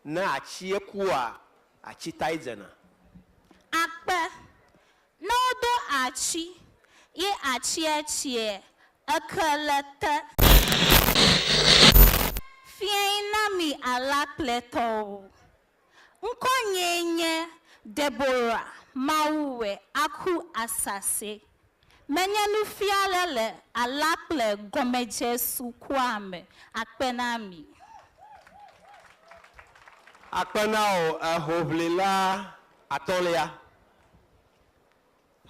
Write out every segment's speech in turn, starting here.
Ne atsie kua, atsi tae dzena. Akpe, Ne wodo atsi, ye atsie tsiɛ, eke le te. Fiẽi na mi alakpletɔwo. Ŋkɔnyee nye Deborah Mawuwe Aku Asase Menye nufiala le Allah kple gɔmedze sukua me. Akpe na mi. Akpe na wò, ehoʋlila atɔ̃lia.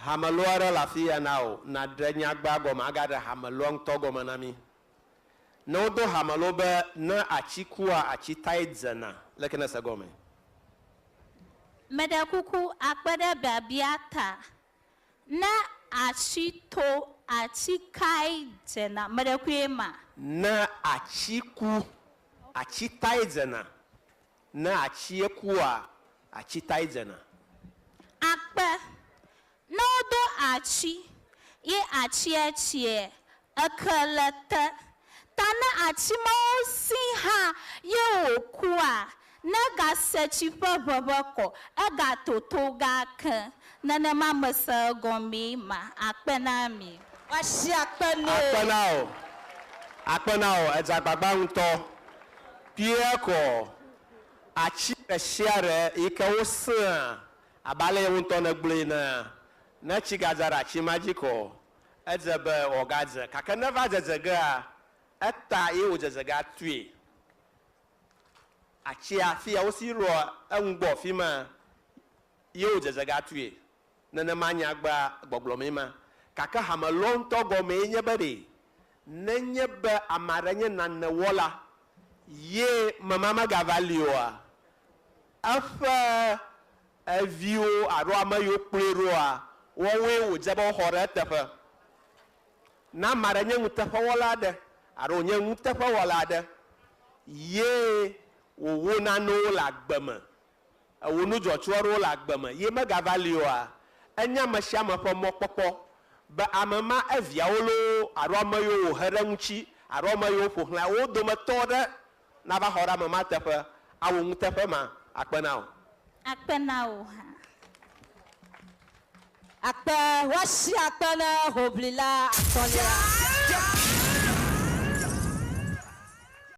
Hamelɔ aɖe le afiya na wò, nàɖe nyagba gɔme agaɖe hamelɔa ŋutɔ gɔme na mí. Ne wodo hamelɔ be, Ne atsi kua, atsi tae dzena, leke nèse gɔmee? Meɖe kuku, akpe ɖe biabia ta. Ne atsi to atsi kae dzena? Meɖekue ma. Ne atsi ku atsi tae dzena? Ne atsie kua atsi tae dzena. Akpe, Ne wodo atsi ye atsie tsiɛ Eke le te ta ne atsi mawo si hã ye wò kua? Ne ga se tsi ƒe ʋeʋe kɔ, ega toto ga ke. Nenema me se egɔmee ma akpe na mi. Woasi akpe nɛ. Akpe na wò, akpe na wò, edze agbagba ŋutɔ. Pierre kɔ atsi ɖe sia ɖe yi ke wo sea abe ale ye ŋutɔ ne gblɔe enea. Ne tsi ga dza ɖe atsi ma dzi kɔ. Edze be wòagadze, gake ne eva dzedze gea, eta ye wòdze ze ge atui. Atsia, afi ya wosi lɔ eŋu gbɔ afi ma ye wòdze ze ge atui. Nenema nyagbea gbɔgblɔ mee ma. Gake hame lɔ ŋutɔ gɔmee nye be ɖe nenye be ame aɖe nye nane wɔla ye mema megava li oa, eƒe Eviwo alo ame yiwo kplɔe ɖoa, woawoe wòdze be woxɔ ɖe eteƒe. Ne ame aɖe nye nuteƒewɔla aɖe alo wònye nuteƒewɔla aɖe ye wòwo nanewo le agbe me, ewɔ nu dzɔtsu aɖewo le agbe me ye megava li oa, enye ame sia ame ƒe mɔkpɔkpɔ be ame ma eviawo loo alo ame yiwo wòhe ɖe eŋuti alo ame yiwo ƒo xlãe, wo dometɔ aɖe Nava xɔ ɖe ame ma teƒe, awu nuteƒe ma. Akpe na wò. Akpe na wò hã. Akpe, woasi akpe na hoʋlila atɔ̃lia.